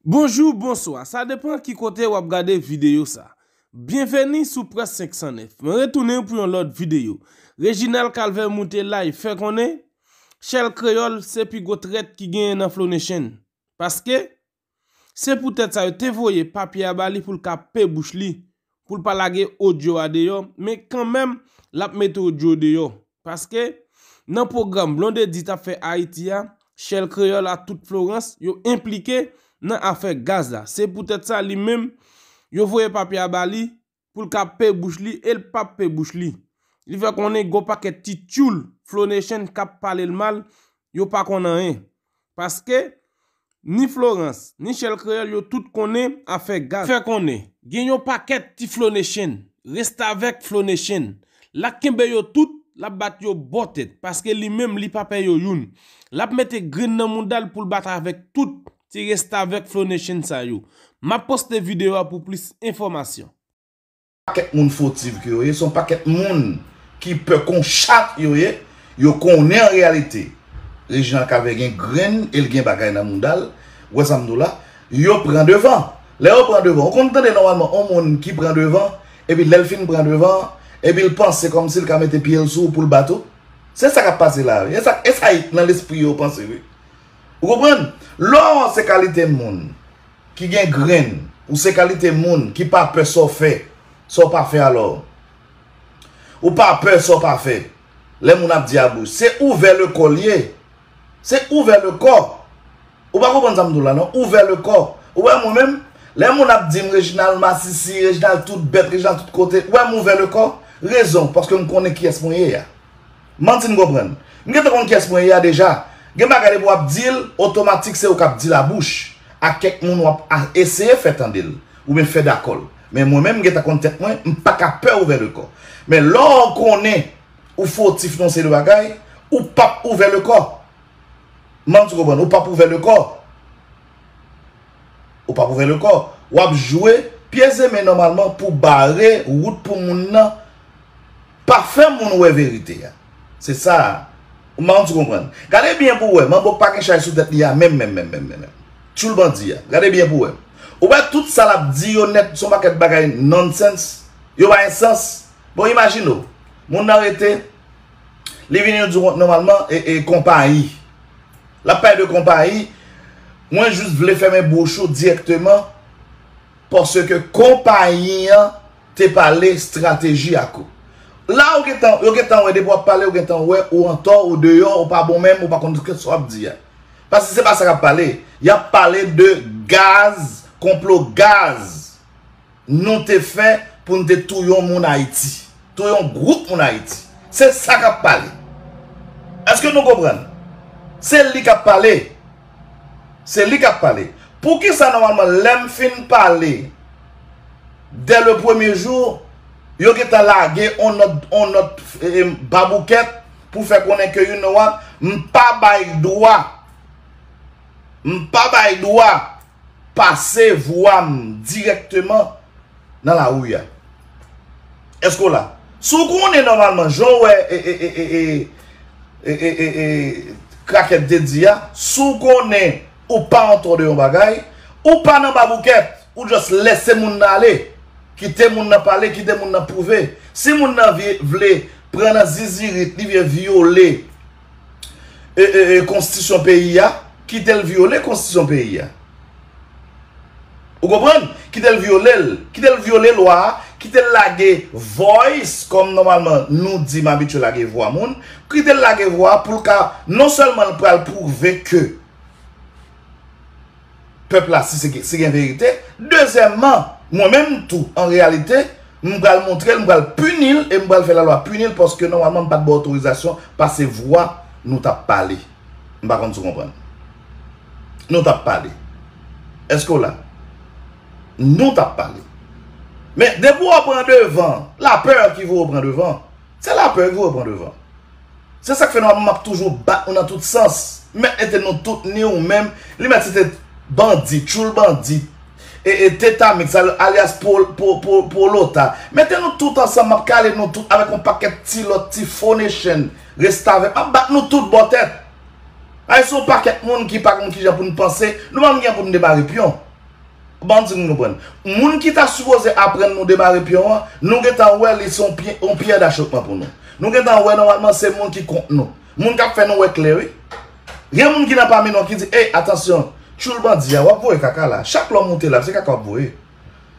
Bonjou, bonswa, sa depan ki kote wap gade videyo sa. Byenveni sou Près 509. Mwen retounen pou yon lòt videyo. Reginald Calvaire moute lay fè konnen Shell Creole se pi gwo trèt ki genyen nan Flow Nation. Paske, se poutèt sa yo te voye papye a ba li pou l ka pe bouch li pou l pa lage odyo a deyò men kanmenm l ap mete odyo deyò paske nan pwogram Blondedy t ap fè Ayiti a Shell Creole a tout Florence yo enplike nan afè gaz la se poutèt sa li menm yo voye papye a ba li pou l ka pe bouch li e l p ap pe bouch li li fè konnen gen yon pakèt ti tyoul Flo Nation k ap pale l mal yo pa konn anyen. Paske, ni Florans, ni Chèl Kreyòl yo tout konnen afè gaz. Fè konnen, gen yon pakèt ti Flonechen, restavèk Flonechen, l ak kenbe yo tout, l ap bat yo bò tèt, paske li menm li pa pè yo youn. L ap mete grenn nan mouda l pou l bat avèk tout, ti restavèk Flonechen sa yo. M ap poste videyo a pou plis enfòmasyon. pakèt moun fotiv ke yo ye, se yon pakèt moun ki pè kon chat yo ye, yo konnen an reyalite Reginald Cavé gen grenn e l gen bagay nan mouda l, ou wè sa m di w la, yo pran devan, lè yo pran devan, ou konn tande nòmalman yon moun ki pran devan, epi lè l fin pran devan, epi l panse kòm si l ka mete pye l sou w pou l bat ou, se sa k ap pase la wi, e sa k nan lespri yo panse wi. Ou konprann? Lò ou se kalite moun ki gen grenn, ou se kalite moun ki pa pè sa w fè, sa w pa fè alò. Ou pa pè sa w pa fè. Lè moun ap di a bouch. Se ouvè le kò l ye. Se ouvè le kò. Ou pa konprann sa m di w la non. Ouvè le kò. Ou wè mwen menm, lè moun ap di m Reginald masisi, Reginald tout bèt, Reginald tout kote, ou wè m ouvè le kò? Rezon, paske m konnen kiyès mwen ye a. Manti n konprann. M gentan konn kyès mwen ye a deja. Gen bagay depi wap di l otomatik se ou kap di l a bouch ak kèk moun wap eseye fè tande l oubyen fè dakò l. Men mwen menm m gentan konn tèt mwen m paka pè ouvè le kò. Men lò ou konnen ou fotif nan yon seri de bagay ou pap ouvè le kò. Manti konprann ou pap ouvè le kò. Ou pap ouvè le kò. Wap jwe pye zeme nòmalman pou bare wout pou moun nan pa fè moun wè verite a. Se sa a. Ou manman ti konprann. Gade byen pou wè. Manbo pa gen chay sou tèt li a menm menm menm menm menm. Tchoul bandi a. Gade byen pou wè. Ou wè tout sa lap di yo nèt son pakèt bagay nonsense. Yo pa gen sans. Bon imajine w. Moun nan rete Li vini di w nòmalman e konpayi. L ap pale de konpayi, mwen jis vle fèmen bouch ou dirèkteman paske konpayi an te pale estrateji ak ou. La ou gen tan, yo gen tan wè depi w ap pale yo gen tan wè ou antò, ou deyò, ou pa bon menm, ou pa konn sa w ap di a. Paske se pa sa k ap pale. Y ap pale de gaz, konplo gaz. Nou te fè pou nou te touyon moun Haiti. Touyon group moun Haiti. Se sa kap pale. Eske nou konprann? Se li kap pale. Se li kap pale. Pou ki sa normalman lem fin pale de le premier jour yo gen tan lage on not on not babouket pou fè konnen ke you know what m pa bay dwa m pa bay dwa Pase vwa m dirèkteman nan lari a. Èske w la? Si w konnen nòmalman jan w wè e krakèt te di a, si w konnen ou pa antò de yon bagay, ou pa nan baboukèt, ou jòs lèse moun nan ale, kite moun nan pale, kite moun nan pwouve. Si moun nan vle pran nan zizirit, li vle vyole. konstitisyon peyi a, kite l vyole konstitisyon peyi a. Ou konprann? Kite l vyole l. Kite l vyole lwa a, kite l lage voice, kòm nòmalman nou di m abitye lage vwa moun, kite l lage vwa pou l ka, non sèlman l pral pwouve ke. pèp la si se gen verite. Dezyèmman, mwen menm tou, an reyalite, m pral montre l, m pral pini l e m pral fè lalwa pini l paske nòmalman m pa t ba w otorizasyon pase vwa nou t ap pale. M pa konn si w konprann. Nou t ap pale. Èske w la? Nou t ap pale. Men, depi w pran devan, la peur ki voye w pran devan. Se la peur ki repran devan. Se sak fè nou ap toujou bat nou nan tout sans. Mèt mete nou tout ni ou menm, li mèt se te bandi, tchoul bandi, e teta mix alyas polota. Mete nou tout ansanm map kale nou tout avèk yon pakèt ti lòt ti fo nechenn, restavèk. Map bat nou tout bò tèt. Ayisyen yon pakèt moun ki pa konn kijan pou nou panse, nou pa menm gen pou nou debare pyon. Banm di nou nou prann. Moun ki ta sipoze aprann nou demare pyon an, nou gentan wè li se yon pyè dachopman pou nou. Nou gentan wè nòmalman se moun ki kont nou. Moun k ap fè nou wè klè wi. Gen moun ki nan pami nou an ki di, ey atansyon, tchoul bandi a, w ap voye kaka la. Chak lè w moute live, se kaka w ap voye.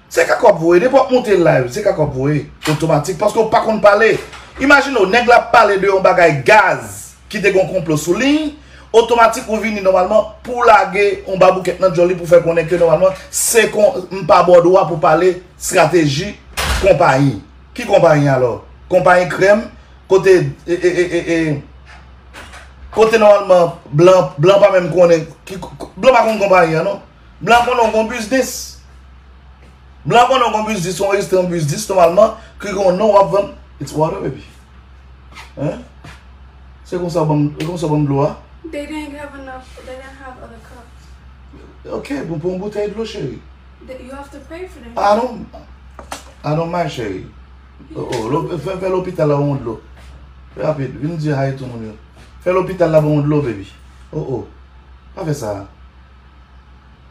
Se kaka w ap voye. Depi w ap moute live, se kaka w ap voye. Otomatik. Paske w pa konn pale. Imajine w, nèg la ap pale de yon bagay gaz. ki te gen yon konplo sou li, otomatik ou vini nòmalman pou w lage yon baboukèt nan djòl li pou w fè konnen ke nòmalman se kon m pa ba w dwa pou w pale strateji konpayi. Ki konpayi alò? Konpayi krèm kote e kote nòmalman blan pa menm konnen blan pa konn konpayi an non. Blan konnen w gon biznis. Blan konnen w gon biznis, ou anrejistre yon biznis nòmalman, ki gen yon non w ap vann. It's water baby. Hein? Se konsa w ban m, e konsa w ban m dlo a? They didn't have enough, they didn't have other cups. Ok, bon pran yon boutèy dlo cheri. They, you have to pay for them. I don't, I don't mind cheri. Oh oh, lo, fè, fè lopital la ban w dlo. Fè rapid, vin di hi to moun yo. Fè lopital la ban w dlo baby. Oh oh, pa fè sa a.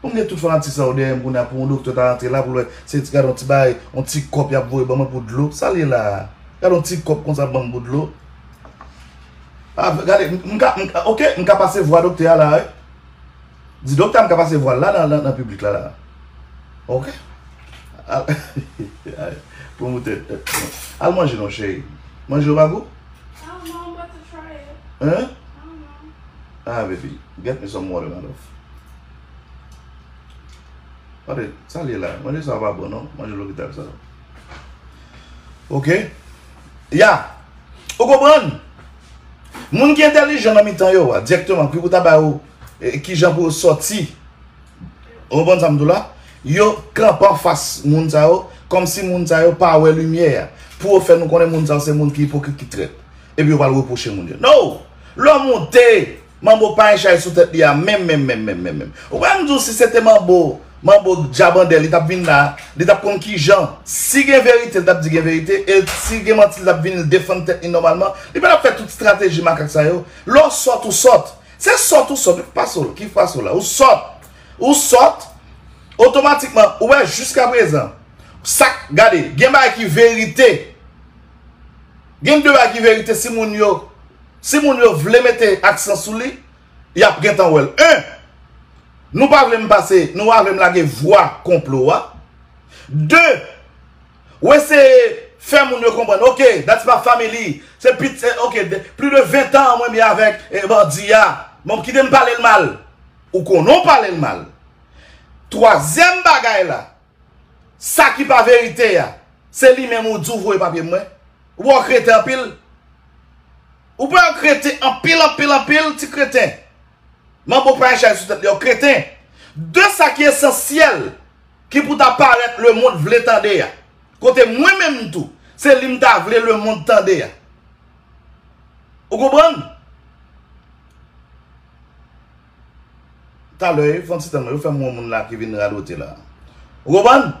Mwen gen tout fanatik sa yo dèyè m kounya pou yon doktè ta antre la pou l wè se ti gade yon ti bagay yon ti kòp y ap voye ban mwen pou dlo sa l ye la a gade yon ti kòp konsa ban m pou dlo a gade m ka m ka ok m ka pase vwa doktè a la wi di doktè a m ka pase vwa l la nan nan piblik la la ok a ayy pwomoutè al manje non cheri manje yo pa gou I don't know I'm about to try it I don't know. Ah baby get me some water my love Tande sa li ye la manje sa pa bon non manje lopital sa yo Ok Ya Ou konprann Moun ki entèlijan nan mitan yo a dirèkteman ki pou ta ba yo kijan pou yo sòti Ou konprann sa m di w la Yo kanpe anfas moun sa yo kòmsi moun sa yo pa wè limyè a pou yo fè nou konnen moun sa yo se moun ki ipokrit ki trèt epi yo pral repwoche moun yo No! Lò moute! Manbo pa en chay sou tèt li a menm menm menm menm menm menm. Ou kwè m di w si se te manbo, manbo djabandè li t ap vin la, li t ap konn ki jan, si gen verite li t ap di gen verite e si gen manti li t ap vin l defann tèt li nòmalman, li pa t ap fè tout strateji makak sa yo. Lè w sòt ou sòt. Se sòt ou sòt. Ou pa sòt. Ki fwa sou la? Ou sòt. Ou sòt. Otomatikman, ou wè jiskaprezan, sa k, gade, gen bagay ki verite. Gen de bagay ki verite si moun yo si moun yo vle mete aksan sou li yap gentan wèl 1 nou pa vle m pase nou avè m lage vwa konplo a 2 ou eseye fè moun yo konprann ok that's my family se pit ok pli de 20 tan mwen byen avèk bandi a bon kite m pale l mal ou konnen w pale l mal 3 zyèm bagay la. Sa ki pa verite a, se li menm ou di ou voye papye mwen. Ou pa wè w kreten anpil? Ou pa wè w kreten anpil, anpil, anpil, ti kreten. Manbo pa yon chay sou tèt li, yon kreten. De sa ki esansyèl, ki pou ta parèt lemond vle tande a. Kote mwen menm tou, se li m ta vle lemond tande a. Ou konprann? Talè yo fon ti tan yo fèm wè moun la ki vin radote la ou konprann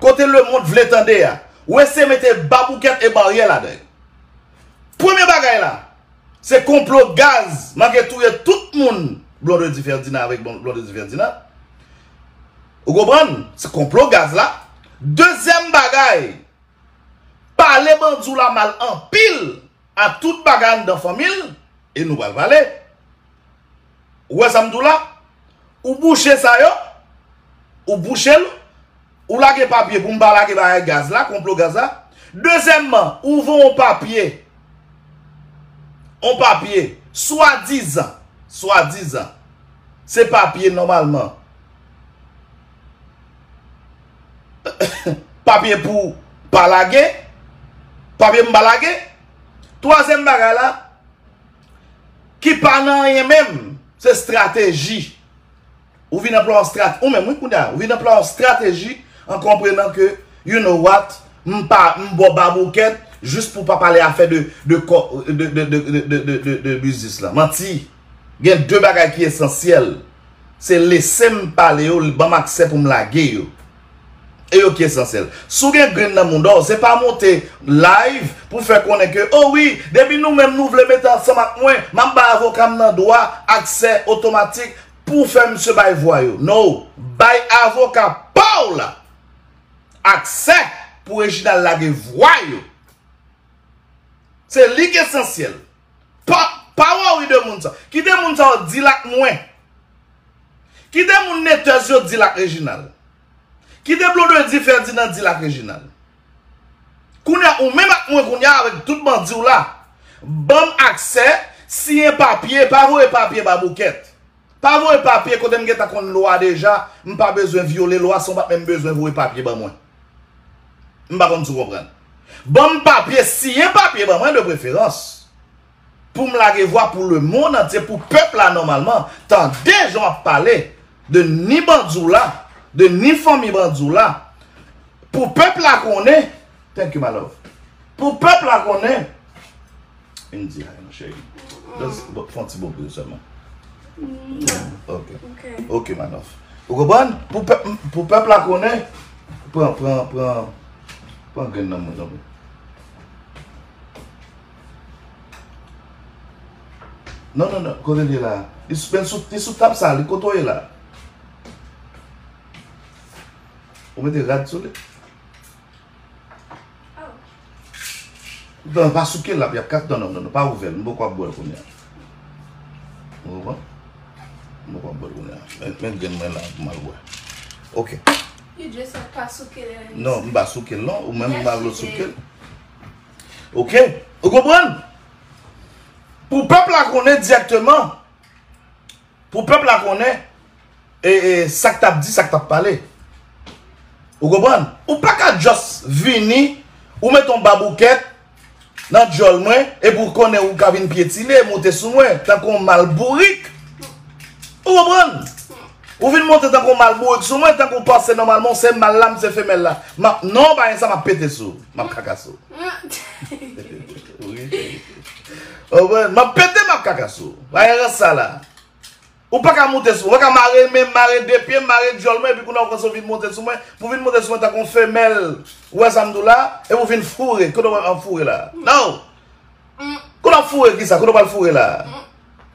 kote lemond vle tande a wè se mete baboukèt e baryè ladan premye bagay la se konplo gaz manke touye tout moun blondedy ferdinand avèk blondedy ferdinand ou konprann se konplo gaz la dezyèm bagay pale bandiw la mal anpil. A tout bagay anndan fanmi l e nou pral pale. Ou wè sa m di w la? Ou bouche sa yo, ou bouche l, ou lage papye pou m pa lage bagay gaz la, konplo gaz la. Dezyèmman, ou voye yon papye, yon papye swadizan, swadizan se papye nòmalman. Papye pou pa lage. Papye pou pa lage. Twazyèm bagay la. Ki pa nan anyen menm. Se strateji. Ou vin anplwa yon strateji. Ou menm wi kounya. Ou vin anplwa yon strateji. An konprenan ke. You know what. M pa m bo babouket. Jis pou pa pale afe de. De biznis la. Manti. Gen 2 bagay ki esansyèl, se lese m pale yo, ban m aksè pou m lage yo. E yo ki esansyèl. Si w gen grenn nan mouda w, se pa monte live pou fè konnen ke, o wi, depi nou menm nou vle mete ansanm ak mwen, m ap bay avoka m nan dwa aksè otomatik pou fè misye bay vwa yo. No! Bay avoka pa w la aksè pou Reginald lage vwa yo. Se li ki esansyèl. Pa pa worry de moun sa. Ki de moun sa yo dil ak mwen. Ki de moun netez yo dil ak Reginald. Ki de blonde di Ferdinand dil ak Reginald. Kounya ou menm ak mwen kounya avek tout bandi w la. Banm aksè, siyen papye, pa voye papye ba bouket. Pa voye papye kote m gentan konn lwa deja m pa bezwen vyole lwa san w pat menm bezwen voye papye ban mwen. M pa konn si w konprann. Ban m papye, siyen papye ban mwen de preferans pou m lage vwa pou lemonn antye pou pèp la nòmalman tande jan w ap pale de ni bandi w la de ni fanmi bandi w la pou pèp la konnen thank you my love pou pèp la konnen Vin di hi mon cheri. Just fè yon ti bon bri sèlman. Ok. Ok Manoff. Ou konprann? Pou pèp la konnen. Pran, pran, pran. Pran grenn nan mwen tanpri. Non, non, non. Kote li la? Li sou tab sa. Li koto li la. Ou mete rad sou li? Nan pa souke lap yap ka nan nan pa ouvèl m poko ap bwèl kounya ou konpran m poko ap bwèl kounya men grenn mwen la pou m al bwè ok non m pa souke l non ou menm ou pa vle w souke l ok ou konprann pou pèp la konnen dirèkteman Pou pèp la konnen e sak tap di sak tap pale. Ou konprann? Ou pa ka just vini ou met yon baboukèt nan dyòl mwen e pou konnen ou ka vin pyetine, monte sou mwen tankou yon mal bourik. Ou konprann? Ou vin monte tankou yon mal bourik sou mwen tankou ou panse nòmalman ou se mal la m se femèl la. Map non pa gen sa map pete sou ou. Map kaka sou ou. Ouwen, map pete map kaka sou ou. Baye rans sa la. Ou pa ka moute sou mwen. Ou pa ka mare men m, mare de pye m, mare dyòl mwen epi kounye a ou pran sou vin moute sou mwen. Pou vin moute sou mwen tankou yon femèl. Ou wè sa m di w la? Epi ou vin foure. Kote ou wè m ap foure la? Non! Kote w ap foure kisa? Kote ou pral foure la?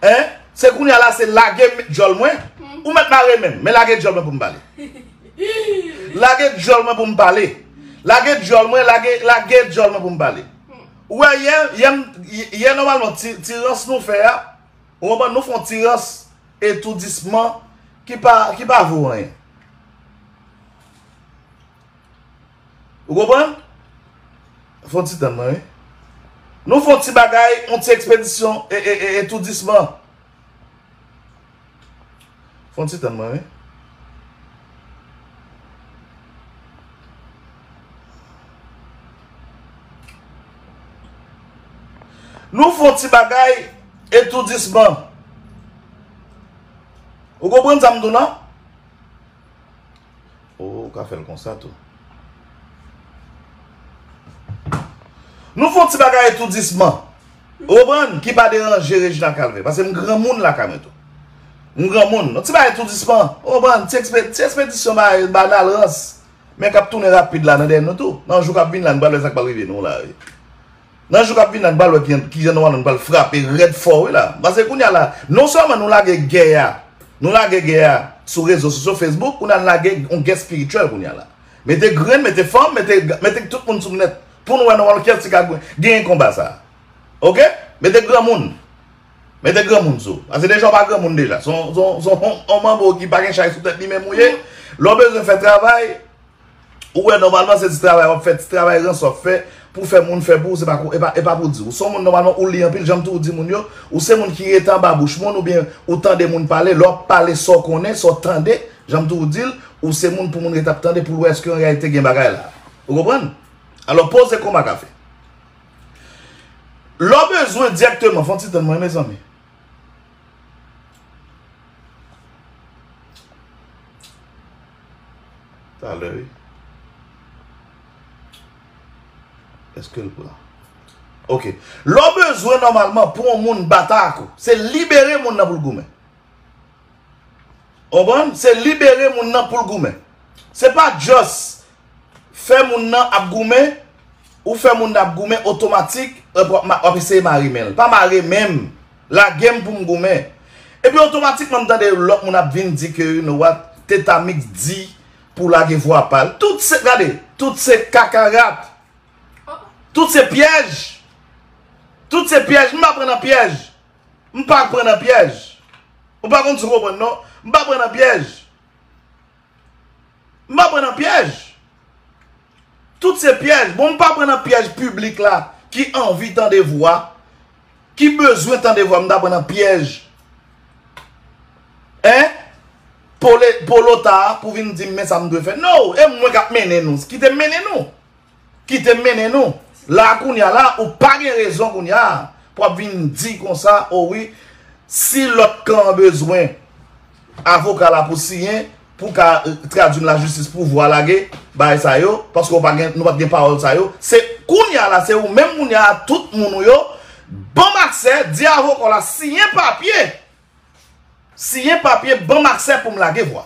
Hein? Se kounye a la se lage dyòl mwen? Ou mèt mare menm, men lage dyòl mwen pou m pale. Lage dyòl mwen pou m pale. Lage dyòl mwen, lage, lage dyòl mwen pou m pale. Ou wè yè, yè m, yè nòmalman ti, ti rans nou fè a, ou konprann, nou fè yon ti rans etoudisman ki pa, ki pa vo anyen. Ou konprann? Fon ti tann mwen wi. Nou fon ti bagay, yon ti ekspedisyon etoudisman. Fon ti tann mwen wi. Nou fon ti bagay etoudisman. Ou konprann sa m di w lan? Oh ou ka fèl konsa tou. Nou fon ti bagay tou disman. Ou konprann ki pa deranje Reginald Calvé. Pase m granmoun lakay mwen tou. M granmoun. Yon ti bagay tou disman. Ou konprann ti ekspedisyon bagay banal rans. Men kap tounen rapid la nan dèyè nou tou. Nan jou kap vin la nou pa wè sa k pral rive nou la. Nan jou kap vini la n pral wè kijan nou anonn pral frape rèd fò wi la pase kounya la non sèlman nou lage gè a nou lage gè a sou rezo sosyo facebook kounya n lage yon gè spirityèl kounya la mete grenn mete fanm mete tout moun sou nèt pou n wè nan wòl kèlti ka genyen konba sa ok mete granmoun mete granmoun sou pase deja w pa granmoun deja son yon manbo ki pa gen chay sou tèt li menm ou ye lè w bezwen fè travay Ou wè nòmalman se ti travay wap fè, ti travay rans wap fè pou fè moun fè pou ou se pa kou e pa pou di. Ou son moun nòmalman ou li anpil janm tou ou di moun yo, ou se moun ki rete anba bouch moun oubyen ou tande moun pale, lè wap pale sa w konnen, sa w tande, janm tou ou di l, ou se moun pou moun rete ap tande pou l wè èske an reyalite gen bagay la. Ou konprann? Alò poze koma ka fè. Lè w bezwen dirèkteman, fon ti tann mwen mezanmi. Talè wi. Eske l pran? Ok. Lè w bezwen nòmalman pou yon moun bata ak ou, se libere moun nan pou l goumen. Konprann? Se libere moun nan pou l goumen. Se pa just fè moun nan ap goumen, ou fè moun nan ap goumen otomatik, w ap eseye mare men l. Pa mare men m. Lage m pou m goumen. Epi otomatikman m tande yon lòt moun ap vin di ke you know what, Tetamix di pou lage vwa pa l. Tout se, gade, tout se kakarat. Tout se pyèj. Tout se pyèj. M pa pran nan pyèj. M pa pran nan pyèj. Ou pa konn sa w pran non. M pa pran nan pyèj. M pa pran nan pyèj. Tout se pyèj. Bon m pa pran nan pyèj piblik la ki anvi tande vwa, ki bezwen tande vwa m ta pran nan pyèj e polota pou vin di m men sa m dwe fè. No! E mwen k ap mennen nou. Kite m mennen nou. Kitem mennen nou la kounya la ou pa gen rezon kounya pou ap vin di konsa o wi si lòt kan an bezwen avoka la pou siyen pou ka tradu nan lajistis pou vwa lage bagay sa yo paske ou pa gen nou pat gen pawòl sa yo se kounya la se ou menm kounya a tout moun ou yo banm aksè di avoka w la siyen papye siyen papye banm aksè pou m lage vwa.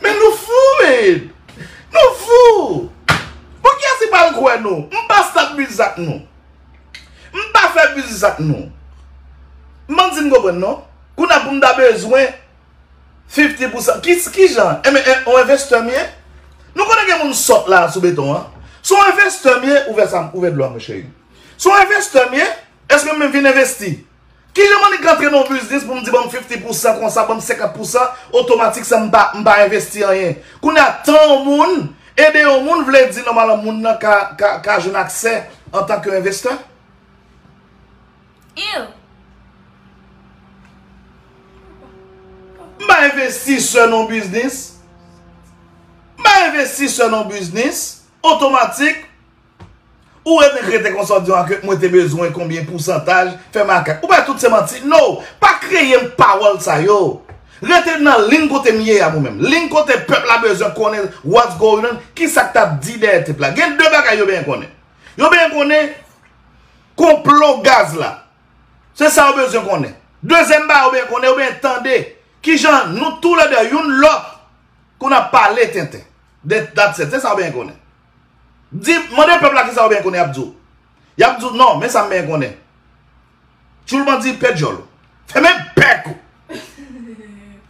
Men nou fou men! Nou fou! Bon kiyès ki pral kwè nou? M pa start biznis ak nou. M pa fè biznis ak nou. M pa di m konprann non. Kounye a pou m ta bezwen 50 pousan. Ki jan? E men on envestè m ye? Nou konnen gen moun sòt la sou beton an. Si on envestè m ye, ouvè dlo a mwen cheri. Si on envestè m ye, èske m menm vin envesti? Kijan mannik k antre nan yon biznis pou m di ban m 50 pousan konsa, ban m 50 pousan otomatik san m pa m pa envesti anyen. Kounye a tan yon moun, ede yon moun vle di nòmalman moun nan ka ka jwenn aksè antan ke envestè? Eww. M pa envestisè nan yon biznis. M pa envestisè nan yon biznis otomatik. Ou renmen krete konsa ou di an ke mwen te bezwen konbyen pousantaj fè makak. Ou pa tout se manti. No! Pa kreye m pawòl sa yo. Rete nan ling kote m ye a mwen menm. Ling kote pèp la bezwen konnen what's going on, ki sa k t ap di dèyè tep la. Gen de bagay yo benyen konnen. Yo benyen konnen konplo gaz la. Se sa yo bezwen konnen. Dezyèm bagay yo benyen konnen, yo benyen tande ki jan nou tou le de youn lòt konn ap pale tenten. That's it. Se sa yo benyen konnen. Di, mande pèp la kisa yo benyen konnen yap di w. Yap di w non, men sa m benyen konnen. Tchoul bandi pè djòl ou. Fèmen bèk ou.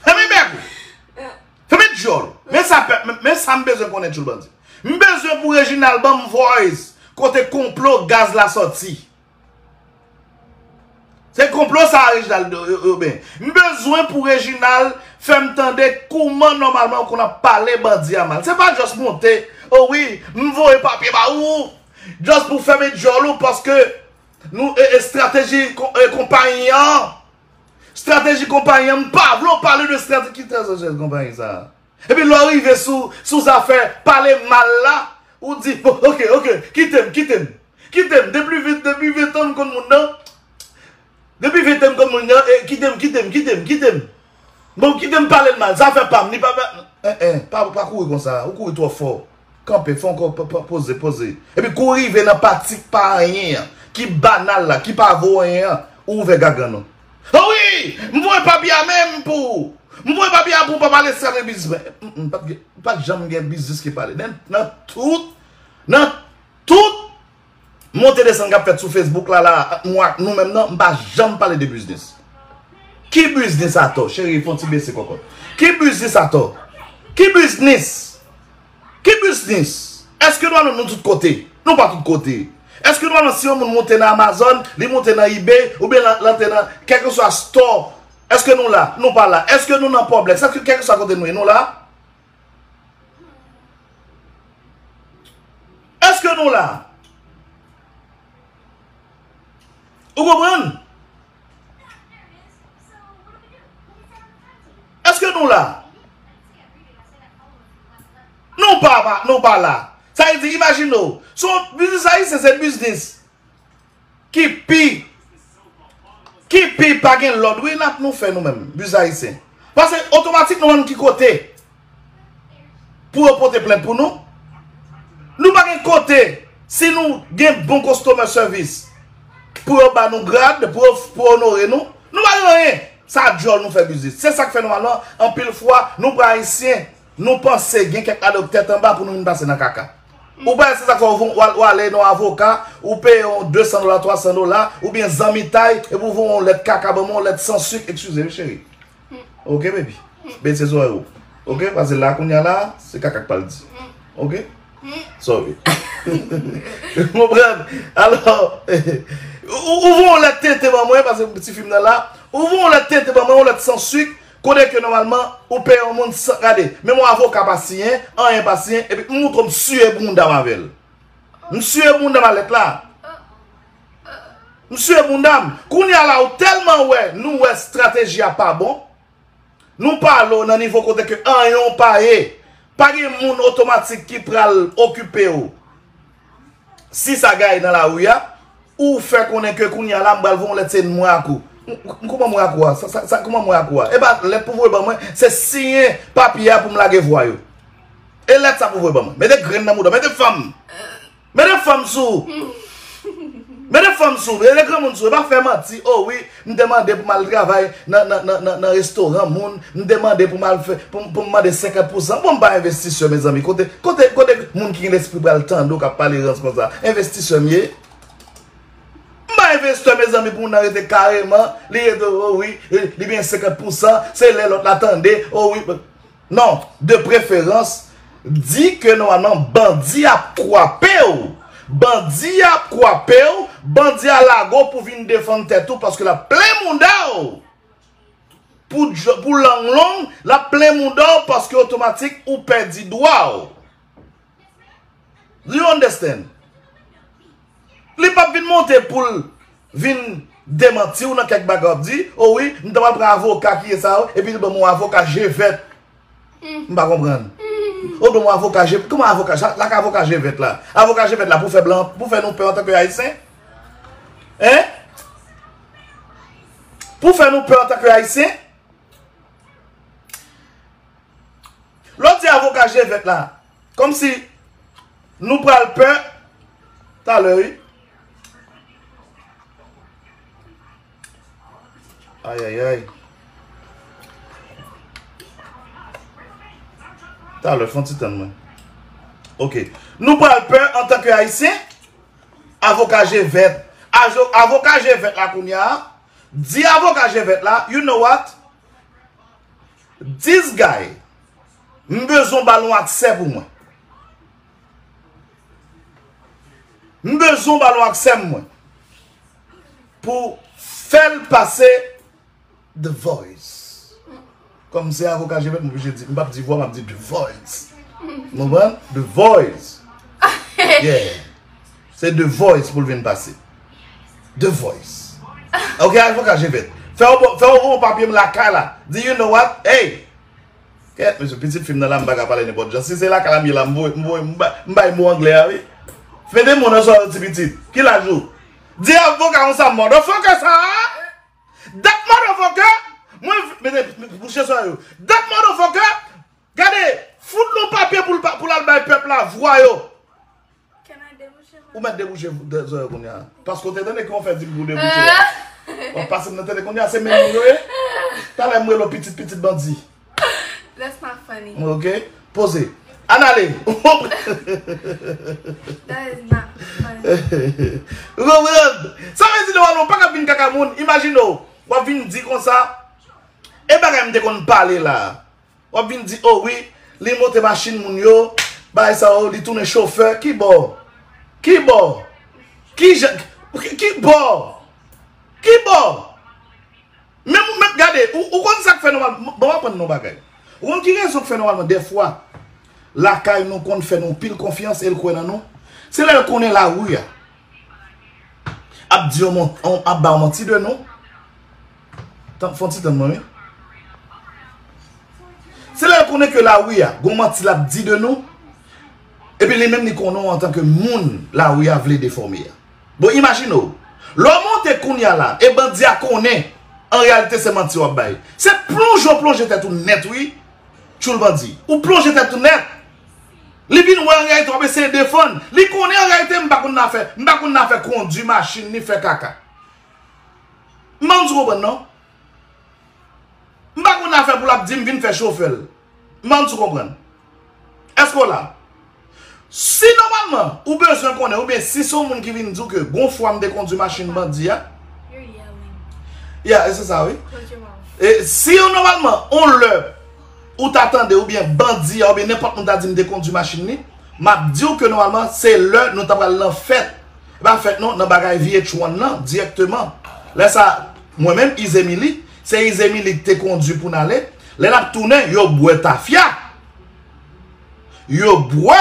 Fèmen bèk ou. Fèmen djòl ou. Men sa pèp, men sa m bezwen konnen tchoul bandi. M bezwen pou Reginald ban m voice kote konplo gaz la sòti. Se konplo sa Reginald yo ben. M bezwen pou Reginald fè m tande kouman nòmalman ou konn ap pale bandi a mal. Se pa just monte, o wi m voye papye ba ou, just pou fèmen dyòl ou paske nou e estrateji konpayi an. Estrateji konpayi an m pa vle ou pale de estrateji ki estrateji konpayi sa. Epi lè w rive sou zafè pale mal la, ou di, bon, ok, ok, kite m, kite m. Kite m, depi ventan m konn moun nan, depi ventan m konn moun nan, kite m, kite m, kite m, kite m. Bon, kite m pale l mal, zafè pa m, li pa, en en, pa kouri konsa, ou kouri twò fò. Kanpe, fon kò, poze, poze. Epi kou rive nan pati k pa anyen an, ki banal la, ki pa vo anyen an, ou ouvè gagann ou. O wi! M voye papye a menm pou ou! M voye papye a pou papa Lestrann gen biznis mwen. M pa t janm gen biznis ki pale. Nan tout, nan tout! Monte desann kap fèt sou Facebook la la ant mwen ak nou menm nan m pa janm pale de biznis. Ki biznis atò? Cheri fon ti bese kòkòt. Ki biznis atò? Ki biznis? Ki biznis? Eske nou alon nou tout kote? Nou pa tout kote. Eske nou alon si yon moun monte nan Amazon, li monte nan Ebay, ou byen lante nan kèlke swa store, eske nou la? Nou pa la. Eske nou nan Poblex? Eske kèlke swa kote nou ye nou la? Eske nou la? Ou konprann? Eske nou la? Nou pa la. Sa e di, imagine ou, son biznis ayisyen se biznis. Ki pi Ki pi pa gen lòd wi nap nou fè nou menm buz ayisyen pase otomatik nou bannou ki kote pou yo pote plent pou nou nou pa gen kote si nou gen bon kostomè sèvis pou yo bannou grad pou yo pou yo onore nou nou pa gen anyen sa dyòl nou fè biznis se sak fè nou alò anpil fwa nou pran ayisyen Nou panse gen kèk adòk tèt anba pou nou vin pase nan kaka. Ou pa wè se sak fè ou ale nan yon avoka, ou peye yon 200 dola, 300 dola, oubyen zanmitay, epi ou voye yon lèt kaka banm, yon lèt san suk, ekskize wi cheri. Ok baby. Bese zorèy ou. Ok, pase la kounya la, se kaka k pral di. Ok. Sorry. Ou konprann? Alò, ou voye yon lèt tenten ban mwen, pase ti fi m nan la, ou voye yon lèt tenten ban mwen, yon lèt san suk, Konnen ke nòmalman ou peye yon moun san gade. Menm yon avoka pa siyen, anyen pa siyen epi m moutro m siye bounda m avèl. M siye bounda m a lèt la. M siye bounda m. Kounya la ou tèlman wè nou wè strateji a pa bon. Nou pale w nan nivo kote ke anyen w pa ye. Pa gen moun otomatik ki pral okipe w. Si sa gaye nan lari a, ou fè konnen ke kounye a la m bal voye yon lèt se mwen ak ou. M kouman mwen ak ou a? Sa kouman mwen ak ou a? E ba lèt pou voye ban mwen, se siyen papye a pou m lage vwa yo. E lèt sa pou voye ban mwen. Mete grenn nan mouda, mete fanm. Mete fanm sou. Mete fanm sou, mete granmoun sou. E ba fè manti, o wi. M te mande pou m al travay nan restoran moun, m te mande pou m mande 50 pou san. Bon m pa envestisè mezanmi, kote moun ki gen lespri pral tande w k ap pale rans konsa. Envestisè m ye? M pa envestè mezanmi pou moun nan rete kareman, li rete o wi, li gen 50 pou san, se lè lòt la tande, o wi. Non, de preferans, di ke nòmalman bandi a ap kwape w. Bandi a ap kwape w, bandi a lage w pou vin defann tèt ou paske l ap plen mouda w. Pou lang long, l ap plen mouda w paske otomatik ou pèdi dwa w. Do you understand? Li pap vin monte poul vin demantiw nan kèk bagay wap di, o wi m ta pral pran avoka ki ye sa yo epi li banm yon avoka je vèt. M pa konprann. Ou banm yon avoka je, kouman avoka, sa ak avoka je vèt la? Avoka je vèt la pou fè blan, pou fè nou pè antanke ayisyen? Hein? Pou fè nou pè antanke ayisyen? Lè w di avoka je vèt la, kòm si nou pral pè talè wi. Ayayay. Talè, fon ti tann mwen. Ok. Nou pral pè an tanke ayisyen, avoka je vèt. Avoka je vèt la kounye a, di avoka je vèt la, you know what? This guy M bezwen w bal yon aksè pou mwen M bezwen w bal yon aksè m mwen Pou fèl pase The voice Kòm se avoka jebèt m oblije di M pap di vwa map di the voice Nou konprann The voice Yeah Se the voice pou l vin pase. The voice. Ok avoka je vet. Fè w fè w yon papye m lakay la. Di you know what hey. Kèt mesye pitit fi m nan la m pa ka pale nenpòt jan. Si se lakay la m ye la m voye m voye m bay mo anglè a wi. Mete mo nan sa yo ti pitit. Ki laj ou? Di avoka konsa motherfucker sa a. That motherfucker. Mwen vle mete bouche sa yo. That motherfucker. Gade fout l yon papye pou l al bay pèp la vwa yo. Ou mèt debouche zòy ou kounya. Paske ou te tande kouman ou fè di pou debouche a. Wap pase m nan tele kounya se menm moun yo ye. Talè m rele w pitit pitit bandi. That's not funny. Ok. Poze. Ann ale. That is not funny. Ou konprann? Sa vle di Noël ou pa ka vin kaka moun. Imajine w. Wap vin di konsa. E bagay m te konn pale la. Wap vin di oh wi li monte machin moun yo bay sa oh li tounen chofè ki bò ki bò ki jan ki bò ki bò men moun men gade ou konn sak fè nòmal bon wap aprann non bagay ou konn ki rezon k fè nòmalman dèfwa lakay nou konn fè nou pil konfyans el kwè nan nou se lèl konnen la ru a ap di yon ap ba yon manti de nou. Tann fon ti tann mwen wi. Se lè l konnen ke lari a gon manti lap di de nou epi li menm li konnen w antan ke moun lari a vle defòme a. Bon imajine w, lè w monte kounya la e bandi a konnen an reyalite se manti wap bay. Se plonje w plonje tèt ou nèt wi tchoul bandi. Ou plonje tèt ou nèt. Li vin wè an reyalite wap eseye defann. Li konnen an reyalite m pa konn nan fè, m pa konn nan fè kondi machin ni fè kaka. M pa konn si w konprann non. M pa konn afè pou l ap di m vin fè chofè l. M pa konn si w konprann. Èske w la? Si nòmalman ou bezwen konnen oubyen si se yon moun ki vin di w ke gon fwa m te kondwi machin bandi a. You're yelling. Yeah, e se sa wi. Close your mouth. E si yon nòmalman yon lè ou ta tande oubyen bandi a oubyen nenpòt moun ta di m te kondwi machin li, m ap di w ke nòmalman se lè nou ta pral nan fèt. Li pa fèt non nan bagay VH1 lan dirèkteman. Lè sa, mwen menm Izemili, se Izemili ki te kondwi pou n ale, lè n ap tounen yo bwè tafya. Yo bwè!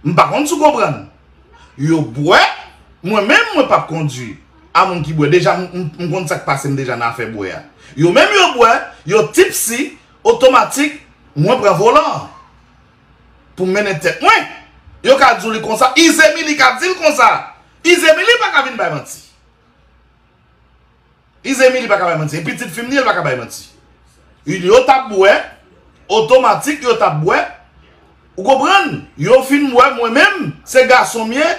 M pa konn si w konprann. Yo bwè, mwen menm mwen p ap kondwi. A moun ki bwè, deja m konn sa k pase m deja nan afè bwè a. Yo menm yo bwè, yo tipsy, otomatik mwen pran volan an. pou m mennen tèt mwen. Yo ka di w li konsa. Izemili ka di l konsa. Izemili pa ka vin bay manti. Izemili pa ka bay manti. E pitit fi m li e l pa ka bay manti. Yo t ap bwè. Otomatik yo t ap bwè. Ou konprann? Yo fin bwè mwen menm. Se gason m ye.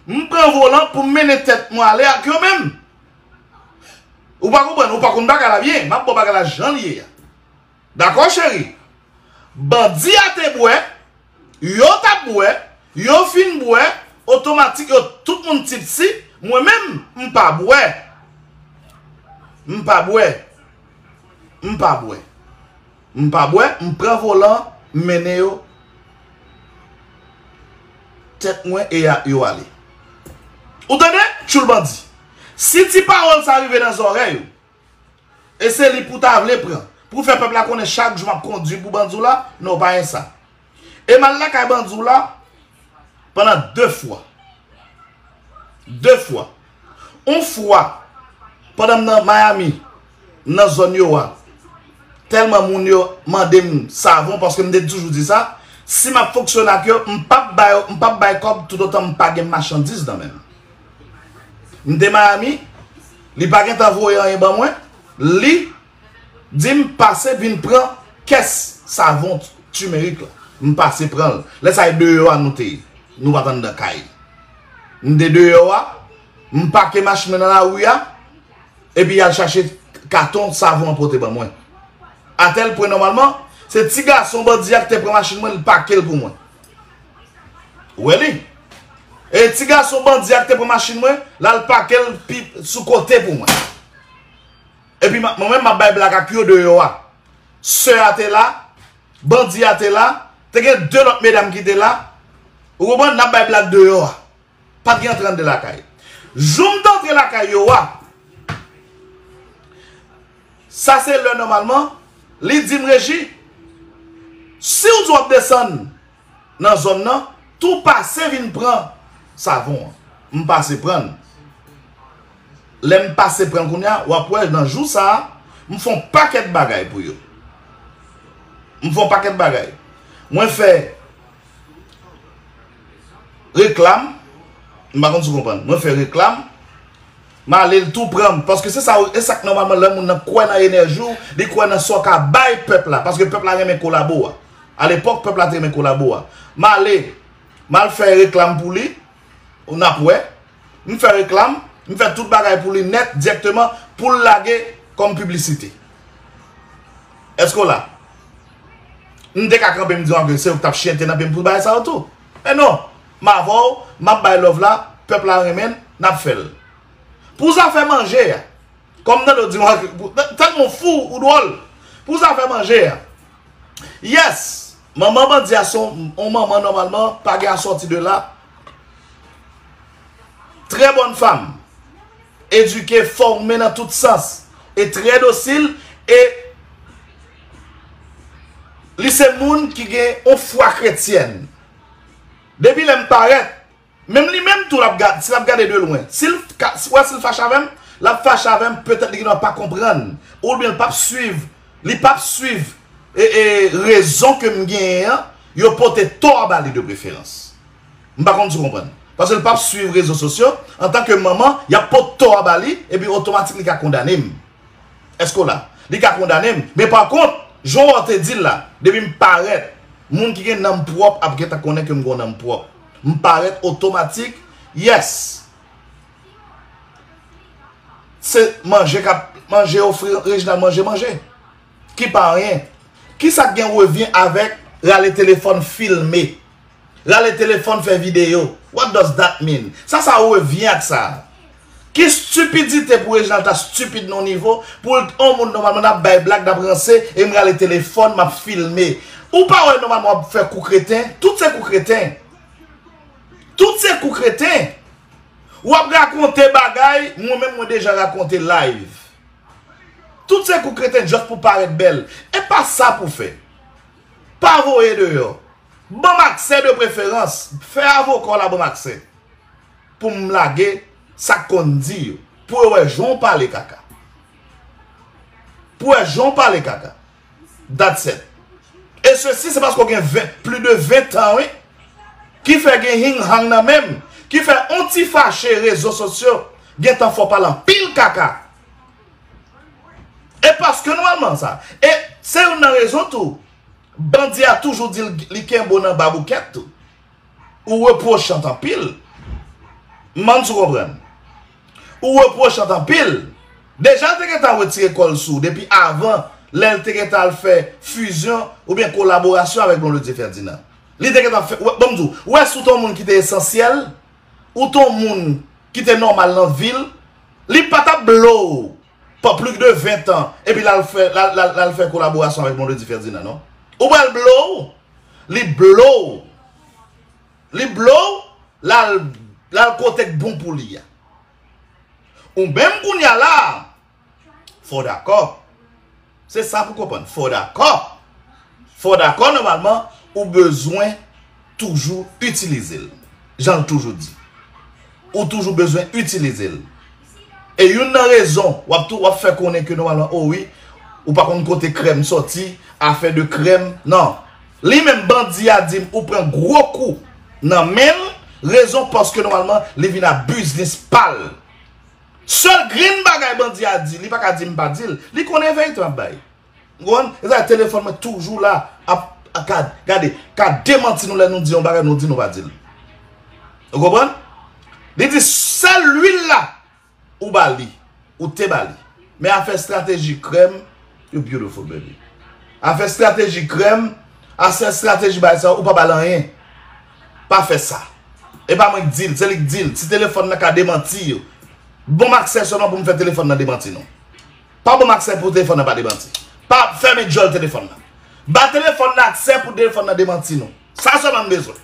M pran volan pou m mennen tèt mwen ale ak yo menm. Ou pa konprann? Ou pa konn bagay la byen. M ap ba w bagay la jan li ye a. Dakò cheri. Bandi a te bwè, yo t ap bwè, yo fin bwè, otomatik yo tout moun tipsy, mwen menm m pa bwè. M pa bwè. M pa bwè. M pa bwè, m pran volan an, m mennen yo tèt mwen e yo ale. Ou tande? Tchoul bandi. Si ti pawòl sa rive nan zòrèy ou, E se li pou ta vle pran. Pou fè pèp la konnen chak jou map kondwi pou bandi w la, non w pa gen sa. E m al lakay bandi w la pandan 2 fwa. 2 fwa. On fwa pandan m nan Miami, m nan zòn yo a, tèlman moun yo mande m savon paske m te toujou di sa, si map fonksyone ak yo, m pap ba yo, m pap bay kòb toutotan m pa gen machandiz nan men m. M te Miami. Li pa gentan voye anyen ban mwen li dim pase vin pran kès savon timerik la m pase pranl lè sa e deyò a nou te ye nou pat anndan kay m te deyò a m pake machin mwen nan lari a epi al chache katon savon an pote ban mwen atèl pwen nòmalman se ti gason bandi a ki te pran machin mwen li pakel pou mwen. Ou wè li? E ti gason bandi a ki te pran machin mwen, l al pake l pi sou kote pou mwen. Epi mwen menm m ap bay blag ak yo deyò a. Sè a te la, bandi a te la, te gen 2 lòt medam ki te la. Ou konprann? N ap bay blag deyò a. Pat gen antre anndan lakay. Jou m t antre lakay yo a, sa se lè nòmalman, li di m, Reji, si w di w ap desann nan zòn nan, tou pase vin pran savon an. M pase pran l. Lè m pase pran l kounye a, w ap wè nan jou sa a, m fè yon pakèt bagay pou yo. M fè yon pakèt bagay. Mwen fè. Reklam, m pa konn si w konprann. Mwen fè reklam, m ale l tou pran m. Paske se sa, e sa k nòmalman lè moun nan kwè nan enèji w, li kwè nan sa w ka bay pèp la. Paske pèp la renmen kolabo a. A lepòk, pèp la te renmen kolabo a. M ale, m al fè reklam pou li, n ap wè. m fè reklam, m fè tout bagay pou li nèt direkteman pou l lage kòm piblisite. Eske w la? M te ka kanpe m di w anke se ou k t ap chyente nan pye m pou bagay sa yo tou. Men non, m avè w, m ap bay love la, pèp la renmen l, n ap fè l. Pou zafè manje a, kòm m tande w di m anke, tèlman w fou, ou dwòl. Pou zafè manje a, yes, manman bandi a se yon manman nòmalman, pa gen asòti de la. Trè bòn fanm. Edike, fòme nan tout sans. E trè dosil e li se moun ki gen yon fwa kretyèn. Depi lè m parèt, menm li menm tou l ap gad, si l ap gade de lwen. Si l wè si l fache avè m, l ap fache avè m petèt li gen dwa pa konprann oubyen li p ap swiv, li p ap swiv rezon ke m genyen an Yo pote tò a ba li de preferans. M pa konn si w konprann. Paske l p ap suiv rezo sosyo, antanke manman, y ap pot tò a ba li, epi otomatik li ka kondane m. Èske w la? Li ka kondane m. Men pa kont, jan w te di l la, depi m parèt, moun ki gen nanm pwòp ap gentan konnen ke m gen yon nanm pwòp. M parèt otomatik, yes! Se manje k ap manje ofri, Reginald manje manje. Ki pa anyen. Kisa k gen revyen avèk rale telefòn filme? Rale telefòn fè videyo? What does that mean? Sa sa revyen ak sa? Ki stupidite pou Reginald ta stupid nan yon nivo pou l t on moun nòmalman nap bay blag nap ranse e m rale telefòn map filme? Ou pa wè nòmalman wap fè kou kreten? Tout se kou kreten. Tout se kou kreten. Wap rakonte bagay mwen menm mwen deja rakonte live. Tout se kou kreten just pou paret bel. Epa sa pou fe. Pa voye deyo. Banm akse de preferans. Fe avoka w la banm akse. Poum lage sak konn di yo. Pou yo we jan w pale kaka. Pou we jan w pale kaka. That's it. E sesi se paske w gen pli de 20 tan wi. Ki fè gen hing hang nan menm. Ki fè on ti fache rezo sosyo gen tan fè w pale anpil kaka. E paske nou alman sa. E se youn nan rezon tou bandi a toujou di li kenbe w nan baboukèt tou. Ou reprochant anpil. M bann si w konprann. Ou reprochant anpil. Deja l te gentan retire kò l sou w depi avan lè l te gentan al fè fizyon oubyen kolaborasyon avèk Blondedy Ferdinand. Li te gentan fè, bon m di w, ou wè si w te yon moun ki te esansyèl, ou te yon moun ki te nòmal nan vi l, li pa t ap blo w Pou plis de 20 tan epi lal fè lal fè kolaborasyon avèk Blondedy Ferdinand non ou pral blow li blow li blow lal lal kotek bon pou li a ou menm kounya la fòw dakò Se sa pou konprann. Fò w dakò. Fò w dakò nòmalman ou bezwen toujou itilize l. Jan l toujou di. Ou toujou bezwen itilize l. E youn nan rezon w ap tou w ap fè konnen ke nòmalman o wi ou pa konn kote krèm sòti, afè de krèm. Nan. Li menm bandi a di m ou pran gwo kou nan men l. Rezon paske nòmalman li vin a biznis pa l. Sèl grenn bagay bandi a di li pa ka di m pa di l, li konnen vérité m ap bay. Ou konprann? Se sa telefòn mwen toujou la ap ka gade, ka demanti nou lè nou di yon bagay nou di nou pa di l. Ou konprann? Li di sèl lwil la ou ba li, ou te ba li. Men afè strateji krèm, you beautiful baby. Afè strateji krèm, afè strateji bagay sa yo ou pa ba l anyen. Pa fè sa. E pa mwen k di l, se li k di l. Si telefòn nan ka demanti yo. Bon m aksè sèlman pou m fè telefòn nan demanti non. Pa bon m aksè pou telefòn nan pa demanti. Pa fèmen djòl telefòn nan. Ba telefòn nan aksè pou telefòn nan demanti non. Sa sèlman m bezwen.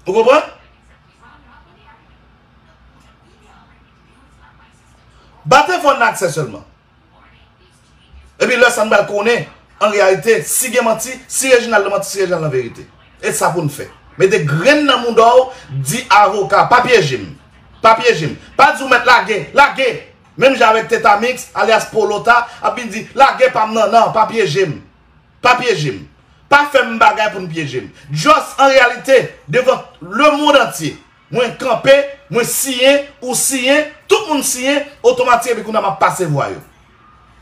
Ou konprann? Ba telefòn nan aksè sèlman. Epi lè sa n pral konnen an reyalite si gen manti, si Reginald lan manti, si Reginald lan verite. E sa pou n fè. Mete grenn nan mouda w, di avoka, pa pyeje m. Pa pyeje m. Pa di w mèt lage, lage! Menm jan avèk Teta Mix, alyas Polota, ap vin di, lage pa m nan, nan, pa pyeje m. Pa pyeje m. Pa fè m bagay pou n pyeje m. Just an reyalite, devan lemond antye. Mwen kanpe, mwen siyen, ou siyen, tout moun siyen, otomatik epi kounye a m ap pase vwa yo.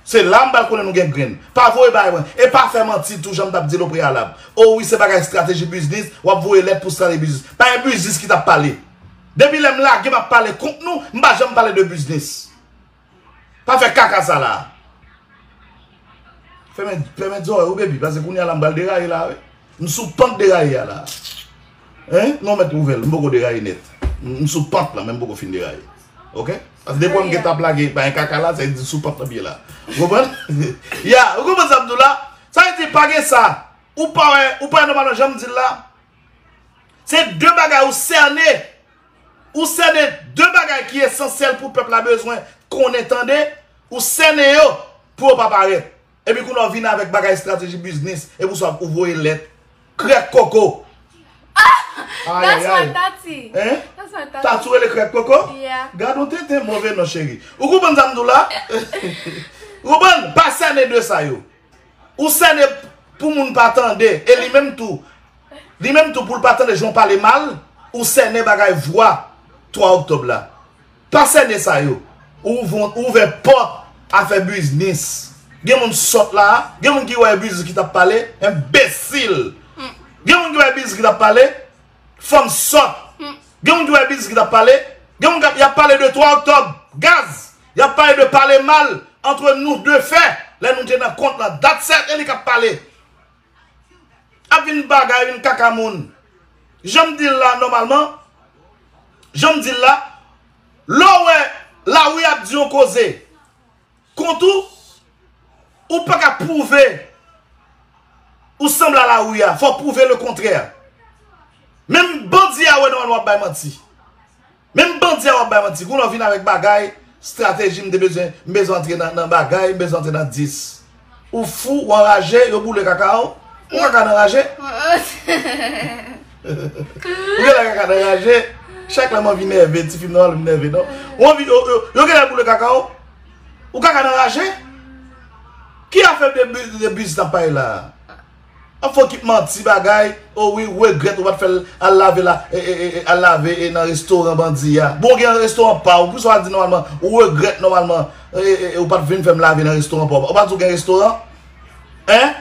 Se la m pral konnen nou gen grenn. Pa voye bay mwen. E pa fè manti tou jan m t ap di l opreyalab. O wi se bagay estrateji bizniz, w ap voye lèt pou strate bizniz. Pa gen bizniz ki t ap pale. Depi lè m lage m ap pale kont nou, m pa janm pale de bizniz. Pa fè kaka sa la. Fèmen zòrèy ou baby. Pase kounye ala m bal deraye la wi. M sou pant deraye a la. Hein? Non mèt ouvèl. M poko deraye nèt. M sou pant la men m poko fin deraye. Ok? Pase depi wèm gen ta plage pa yon kaka la sa vle di sou pant la m ye la. Ou konprann? Ya! Ou konprann sa m di w la? Sa vle di pa gen sa. Ou pa wè, ou pa wè nòmalman jan m di l la? Se de bagay ou sène. Ou sènen 2 bagay ki esansyèl pou pèp la bezwen konnen tande, ou sènen yo pou yo pa parèt. Epi kounye a ou vini avèk bagay estrateji biznis, epi ou sòt ou voye lèt. Krèk koko! Ahh! That's what Tati! Hein? That's what Tati! Tati rele krèk koko? Yeah! Gad yon tenten move non cheri. Ou konprann sa m di w la? Ou konprann? Pa sènen 2 sa yo. Ou sène pou moun pa tande e li menm tou li menm tou pou l pa tande jan w pale mal ou sène bagay vwa 3 oktòb la pa sène sa yo ou ouvè pòt a fè biznis gen moun sòt la gen moun ki wè e biznis ki t ap pale enbesil gen moun ki wè e biznis ki t ap pale fanm sòt gen moun ki wè e biznis ki t ap pale gen moun y ap pale de 3 oktòb gaz Yap pale de pale mal antre nou de fè lè nou te nan kont lan dat sèl e li kap pale ap vin bagay yn kaka moun janm dil la nòmalman janm dil la lè w wè lari ap di yon koze kont ou ou paka pwouve ou sanble a lari a fò w pwouve le kontrè menm bandi a wè nòmalman wap bay manti. Menm bandi a wap bay manti gouno vin avek bagay strateji m te bezwen m bezwen antre nan bagay m bezwen antre nan 10 ou fou ou anraje yo boule kaka w ou kaka nan raje ou genle kaka nan raje chak lè m anvi nève ti fim nan wale m nève non ou anvi yo genle boule kaka w ou kaka nan raje ki afè de bus nan pay la. An fo ki manti bagay o wi regrèt ou pat fèl al lave la al lave e nan restoran bandi ya bon ou gen restoran paw poukisa ou pa di nòmalman ou regrèt nòmalman e ou pat vin fèm lave nan restoran paw ou pa di ou gen restoran en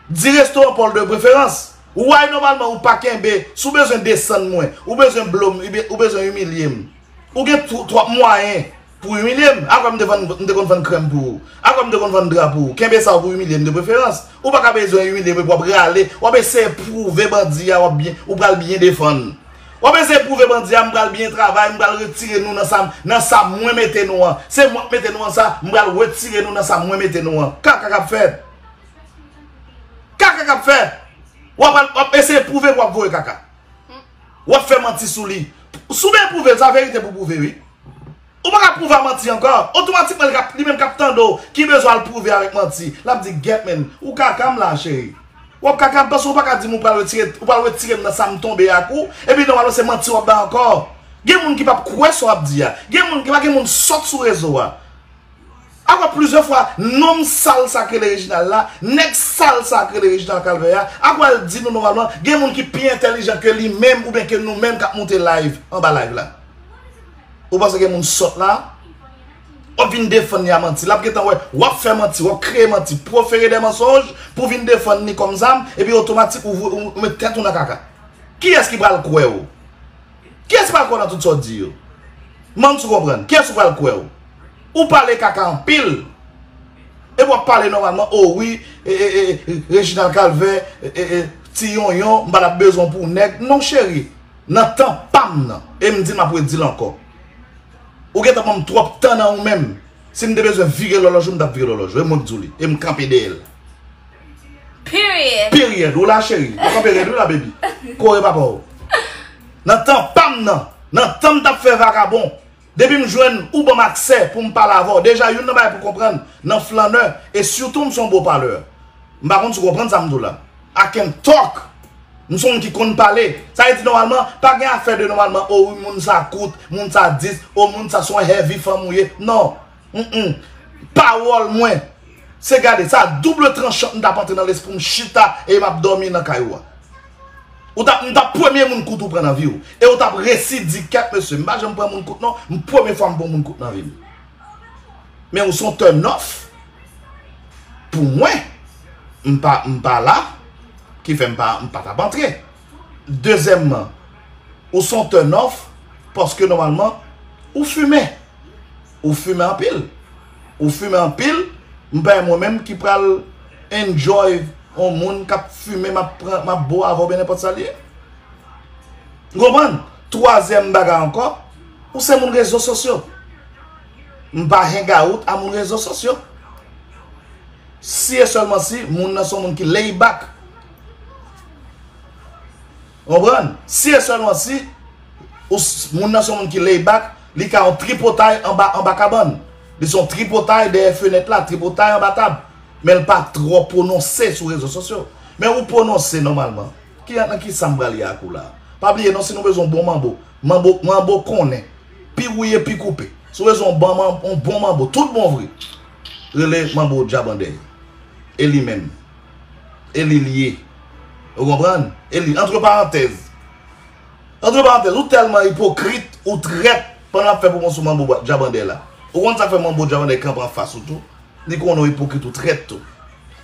di restoran paw de preferans why nòmalman ou pa kenbe si ou bezwen desann mwen ou bezwen blom ou bezwen imilyem ou gen twòp mwayen Pou imilye m, apre m te vann m te konn vann krèm pou ou. Apre m te konn vann dra pou ou. Kenbe sa w pou imilye m de preferans. Ou pa ka bezwen imilye m epi w ap rale, w ap eseye pwouve bandi a w ap byen, ou pral byen defann. W ap eseye pwouve bandi a m pral byen travay, m pral retire nou nan sa m, nan sa mwen mete nou an. Se mwen k mete nou an sa, m pral retire nou nan sa mwen mete nou an. Kaka k ap fèt. Kaka k ap fèt. W ap al, w ap eseye pwouve pou w ap voye kaka. Wap fè manti sou li. Sou byen prouvel sa verite pou prouve wi. Ou paka prouve a manti ankò. Otomatikman li kap li menm kap tande w ki bezwen al prouve avèk manti. Lap di gyèt menn. Ou kaka m la cheri. Wap kaka m paske ou paka di m ou pral retire ou pral retire m nan sa m tonbe ak ou. Epi nòmalman se manti wap bay ankò. Gen moun ki pap kwè sa wap di a. Gen moun gen pa gen moun sòt sou rezo a. Aprè plizyè fwa nonm sal sa k rele Reginald la, nèg sal sa k rele Reginald Calvert a, ap pral di nou nòmalman gen moun ki pi entèlijan ke li menm oubyen ke nou menm k ap moute layv anba layv la. Ou panse gen moun sòt la? W ap vin defann li a manti. L ap gentan wè w ap fè manti, w ap kreye manti, profere dè mansonj pou w vin defann li kòm zam epi otomatik ou met tèt ou nan kaka. Kiyès ki pral kwè w? Kiyès ki pral kwè w nan tout sa w di yo? M mande si w konprann. Kiyès ki pral kwè w? Ou pale kaka anpil. Epi w ap pale nòmalman, o wi, e, e, e, e, Reginald Calvin, e, e, e, Ti Yonyon, m pa t ap bezwen w pou nèg. Non cheri, nan tan pa m nan, e m di, m ap redi l ankò. Ou gen tan ban m twòp tan nan ou menm. Si m te bezwen vire lòlòj ou, m t ap vire lòlòj ou. E mwen k di w li. E m kanpe dèyè l. Period. Period. Ou la cheri. Ou kanpe rèd ou la baby. Kore papa ou. Nan tan pam nan. Nan tan m tap fè vakabon. Depi m jwenn ou banm aksè pou m pale avè w. Deja youn nan bagay pou konprann nan flannè e sitou m son bon palè. M pa konn si w konprann sa m di w la. I can talk. M son moun ki konn pale. Sa vle di nòmalman pa gen afè de nòmalman o wi moun sa kout, moun sa dis, o moun sa son heavy fanm ou ye. Non. Pawòl mwen se gade sa double tranchant m tap antre nan lespri m chita e map dòmi nan kay ou a. Ou tap m tap premye moun kout ou pran nan viw e ou tap resi di kèt mesye m pa janm pran moun kout non m premye fwa m pran moun kout nan vim. Men ou son turn off pou mwen m pa la ki fè m pa tap antre. Dezèmman, ou son turn off paske nòmalman ou fimen. Ou fimen anpil. Ou fimen anpil, m pa mwen menm ki pral enjoy yon moun k ap fimen m ap pran, m ap bo avè w oubyen nenpòt sa li ye. Ou konprann? Twazyèm bagay ankò, ou se moun rezo sosyo. M pa hangout a moun rezo sosyo. Si e sèlman si moun nan son moun ki laid back. Konprann? Si e sèlman si moun nan se yon moun ki lay back, li ka yon tripotay anba anba kabann. Li se yon tripotay dèyè fenèt la, tripotay anba tab. Men l pa twò pwononse sou rezo sosyo. Men ou pwononse nòmalman. Ki nan ki sa m pral ye ak ou la a? Pa bliye non si nou bezwen yon bon manbo, manbo manbo konnen, pi wouye pi koupe. Si w bezwen yon bon manbo, yon bon manbo tout bon vre, rele manbo Djab Andèy. E li menm. E li l ye. Ou konprann? E li. Antre parantèz. Antre parantèz. Ou tèlman ipokrit, ou trèt, pandan l ap fè pwomosyon manbo djabandè la. Ou konn sa k fè manbo djabandè kanpe anfas ou tou. Li konnen ou ipokrit, ou trèt tou.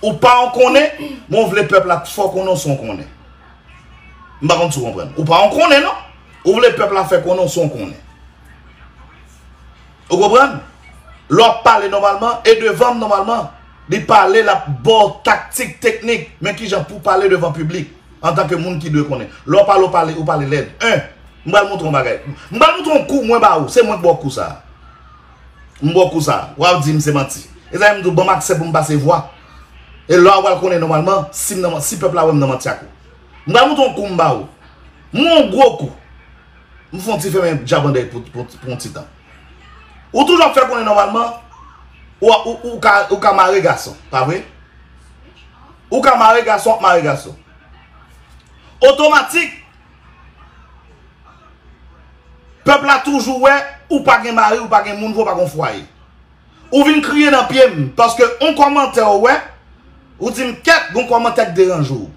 Ou pa yon konnen, men ou vle pèp la fè w konnen ou se yon konnen. M pa konn si w konprann. Ou pa yon konnen non. Ou vle pèp la fè konnen ou se yon konnen. Ou konprann? Lè wap pale nòmalman e devan m nòmalman, li pale lap ba w taktik, teknik men kijan pou pale devan piblik antanke moun ki dwe konnen. Lè w pale, ou pale lèd. 1, M pral montre w yon bagay. M pral montre w yon kou mwen ba ou. Se mwen ki ba w kou sa a. M ba w kou sa a. Wè w di m se manti. E sa fè m di w ban m aksè pou m pase vwa. E lè w apral konnen nòmalman si pèp la wè m nan manti ak ou. M pral montre w yon kou m ba ou. M ba w yon gwo kou. M fon ti femen djabandèy pou yon ti tan. Ou toujou ap fè konnen nòmalman ou ka mare gason, pa vre? Ou ka mare gason ap mare gason. Otomatik, pèp la toujou wè ou pa gen mari, ou pa gen moun, ou pa gen fwaye. Ou vin kriye nan pye m, paske yon kòmantè ou wè, ou di m kèt yon kòmantè k deranje ou.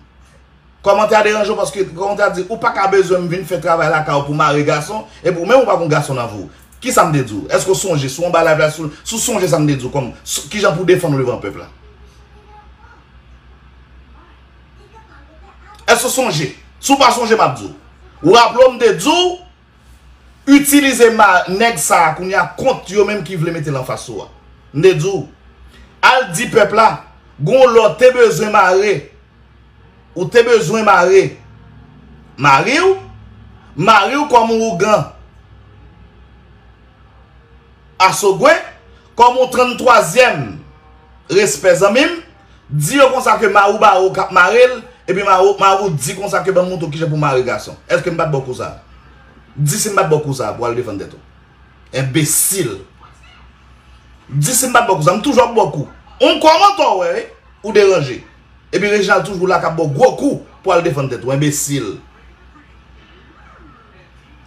Kòmantè a deranje w paske kòmantè a di ou pa ka bezwen m vin fè travay lakay ou pou mare gason epi ou menm ou pa gon gason nan vre w. Kisa m te di w? Èske w sonje si w anba live la si w sonje sa m te di w kòm kijan pou w defann w devan pèp la? Èske w sonje? Si w pa sonje m ap di w. Ou raple w m te di w itilize nèg sa a kounye a kont yo menm ki vle mete l anfas ou a. M te di w al di pèp la gon lè w te bezwen mare. Ou te bezwen mare Mari w Mari w kòm yon ougan Asogwe kòm yon 33 zyèm Respè zanmi m Di yo konsa ke Mari w ba ou kap mare l Epi Mari w di konsa ke banm montre w kijan pou mare gason Eske m bat ba w kou sa Di si m bat ba w kou sa pou al defann tèt ou Enbesil Di si m bat ba w kou sa M toujou ap ba w kou Ou kòmantò wè wi Ou deranje. Epi Reginald toujou la kap baw gwo kou pou al defann tèt ou enbesil.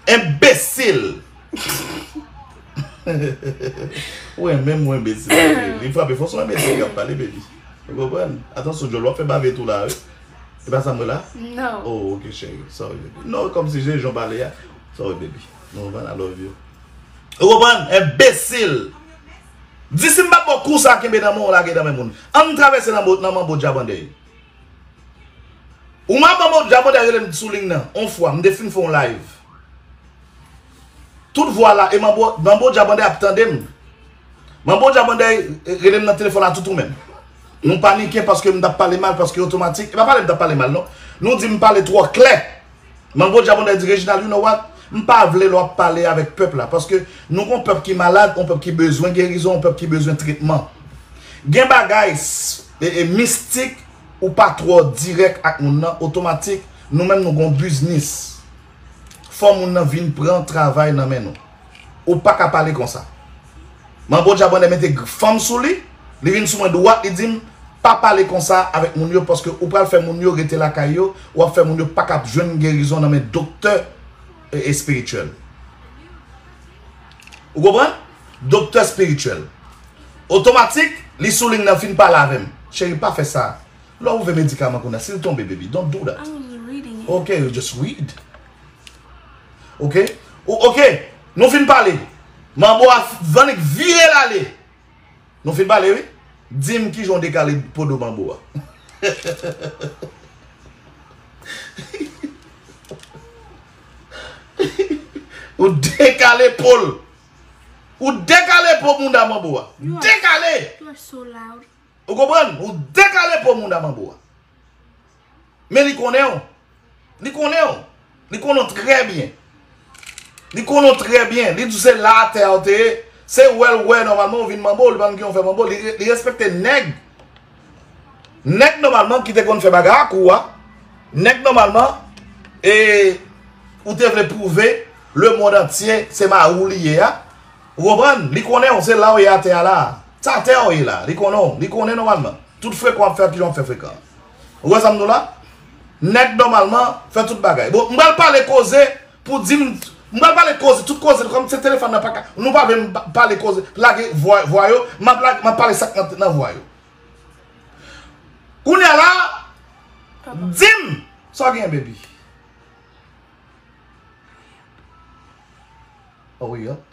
Enbesil. Ou renmenm ou enbesil anpil. Li frape fò son enbesil kap pale baby. Ou konprann? Atansyon djòl wap fè bave tou la wi. Se pa sa mwen la? Non. Oh ok cheri. Sorry baby. Non kom si je jan pale a. Sorry baby. Nou konprann I love you. Ou konprann? Enbesil. Di si m pa t ba w kou sa a kenbe nan men w lage nan men moun. An n travèse nan manbo Djabandèy. Ou man manbo Djabandèy rele m sou ling nan on fwa, m te fin fè on live. Tout vwa la e manbo Djabandèy ap tande m. Manbo Djabandèy rele m nan telefòn a toutou menm. Nou panike paske m t ap pale mal paske otomatik. E pa pale m t ap pale mal non. Nou di m pale twò klè. Mango Djabondè di Reginald you know what m pa vle lè w ap pale avèk pèp la paske nou gon pèp ki malad on pèp ki bezwen gerizon on pèp ki bezwen tretman gen bagay mistik ou pa twò dirèk ak moun nan otomatik nou menm nou gon biznis fò moun nan vin pran travay nan men nou. Ou paka pale konsa. Manbo djab anlè mete fanm sou li, li vin sou mwen dwat li dim pa pale konsa avèk moun yo paske ou pral fè moun yo rete lakay yo, wap fè moun yo paka ap jwenn gerizon nan men doktè espirityèl. Ou konprann? Doktè espirityèl. Otomatik li sou li nan fin pale avèm. Cheri pa fè sa. Lè ou ve medikaman kounya sil tonbe baby don't do that. Ok, just read. Ok Ou ok Nou fin pale Manbo a annik vire l ale Nou fin pale wi Di m kijan w dekale po do manbo a Ou dekale po l Ou dekale po mounda manbo a Dekale Ou konprann Ou dekale po mounda manbo a Men li konnen w. Li konnen w. Li konnen w trè byen. Li konnen w trè byen. Li di w se la atè a w te ye. Se wè l wè nòmalman ou vin manbo w. Li pa konn ki jan w fè manbo w. Li respekte nèg. Nèg nòmalman ki te konn fè bagay ak ou a. Nèg nòmalman e ou te vle pwouve le mond antye se mari w li ye a. Ou konprann? Li konnen w. Se la w ye atè a la. Se atè a w ye la. Li konnen w. Li konnen nòmalman. Tout frekan wap fè kijan wap fè frekan an. Ou wè sa m di w la? Nèg nòmalman fè tout bagay. Bon m pral pale koze pou di m m pral pale koze tout koze kòm se telefòn nan paka nou pa vle m pale koze lage vwa yo m ap lage m ap pale sak nan vwa yo. Kounya la di m sa w genyen baby? Hurry up.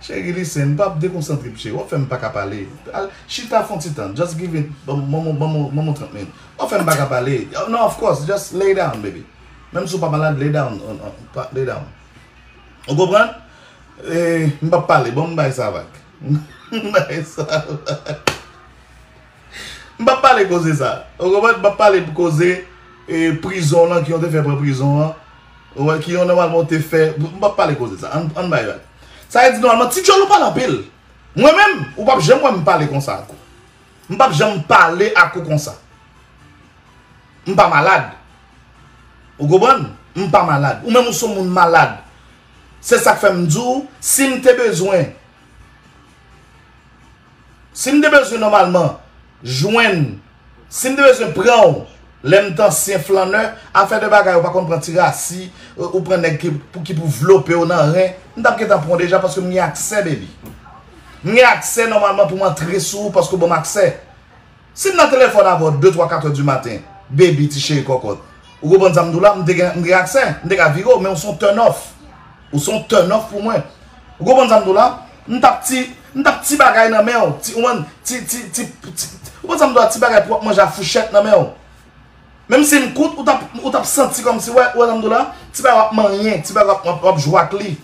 Cheri listen m pap dekonsantre msye wap fèm paka pale al chita fon ti tan just give it banm on 30 min wap fèm paka pale nan of course just lay down baby menm si w pa malad lay down lay down ou konprann m pap pale banm bay sa vag banm bay sa vag m pap pale koze sa ou konprann m pap pale koze prizon lan ki yon te fè pran prizon an. Ou wè ki yon nòmalman ou te fè. M pap pale koze sa. Ann bay rad. Sa vle di nòmalman ti djòl ou pale anpil. Mwen menm ou pap janm wè m pale konsa ak ou. M pap janm pale ak ou konsa. M pa malad. Ou konprann? M pa malad. Ou menm ou son moun malad. Se sak fè m di w si m te bezwen. Si m te bezwen nòmalman jwenn, si m te bezwen pran w lè m t ansyen flannè, afè de bagay ou pa konn pran ti rasi, ou pran nèg ki pou vlope w nan ren, m t ap gentan pran w deja paske m gen aksè baby. M gen aksè nòmalman pou m antre sou ou paske w ban m aksè. Si m nan telefòn avè w de twa katè di maten baby ti cheri kòkòt ou konprann sa m di w la m te gen m gen aksè m te ka vire w men ou son turn off ou son turn off pou mwen ou konprann sa m di w la m tap ti m tap ti bagay nan men w ti ou konprann ti ti ti ti ou konprann sa m di w la ti bagay pou w ap manje a fouchèt nan men w. Menm si m kout ou t ap santi kòmsi wè Alhamdoulilah ti bagay w ap manyen, ti bagay w ap jwe ak li.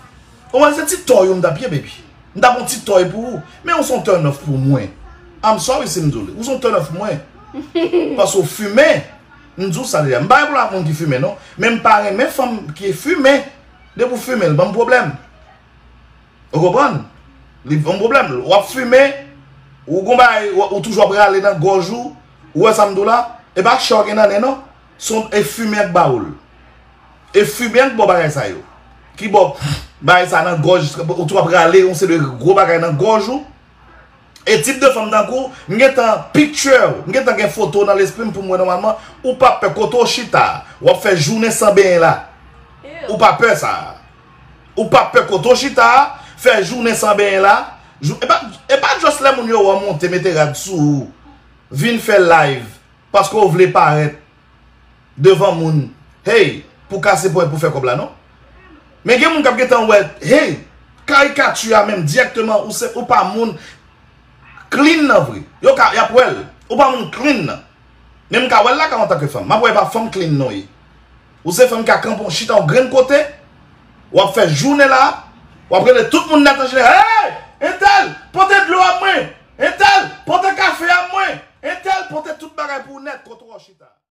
Ou wè se ti tò yo m t ap ye baby. M ta pran yon ti tòy pou ou. Men ou se yon turn off pou mwen. I'm sorry si m di w li. Ou se yon turn off pou mwen. Paske w fimen. M di w sa deja. M pa gen pwoblèm ak moun ki fimen non. Men m pa renmen fanm ki fimen. Depi w fimen l ban m pwoblèm. Ou konprann? Li p yon pwoblèm. Ou ap fimen, ou gon bagay, ou toujou ap rale nan gòj ou, ou wè sa m di w la? E pa chè w gen nan nen non. Se yon e fimen y ap ba ou l. E fimen an k bo w bagay sa yo. Ki bo w bagay sa nan gòj, ou toujou ap rale yon seri de gwo bagay nan gòj ou. E tip de fanm tankou w, m gen tan picture w, m gen tan gen foto w nan lespri m pou m wè nòmalman, ou pa pè kote w chita a, w ap fè jounen san benyen la. Ou pa pè sa a. Ou pap pè kote w chita a, fè jounen san benyen la, e pa just lè moun yo wè w monte mete rad sou ou, vin fè live paske w vle parèt devan moun hey pou kase pwen pou fè kòb la non. Men gen moun k ap gentan wè hey karikati a menm dirèkteman ou pa moun clean nan vre. Yo ka y ap wè l ou pa moun clean nan. Men m ka wè l lakay w antanke fanm. M ap wè e pa fanm clean nan w ye. Ou se fanm ka kanpe w chita w grenn kote, w ap fè jounen la, w ap rele tout moun nèt anjinè, Hey! Entèl, pote dlo a mwen! Entèl, pote kafe a mwen! Entèl, pote tout bagay pou ou nèt kote w chita a.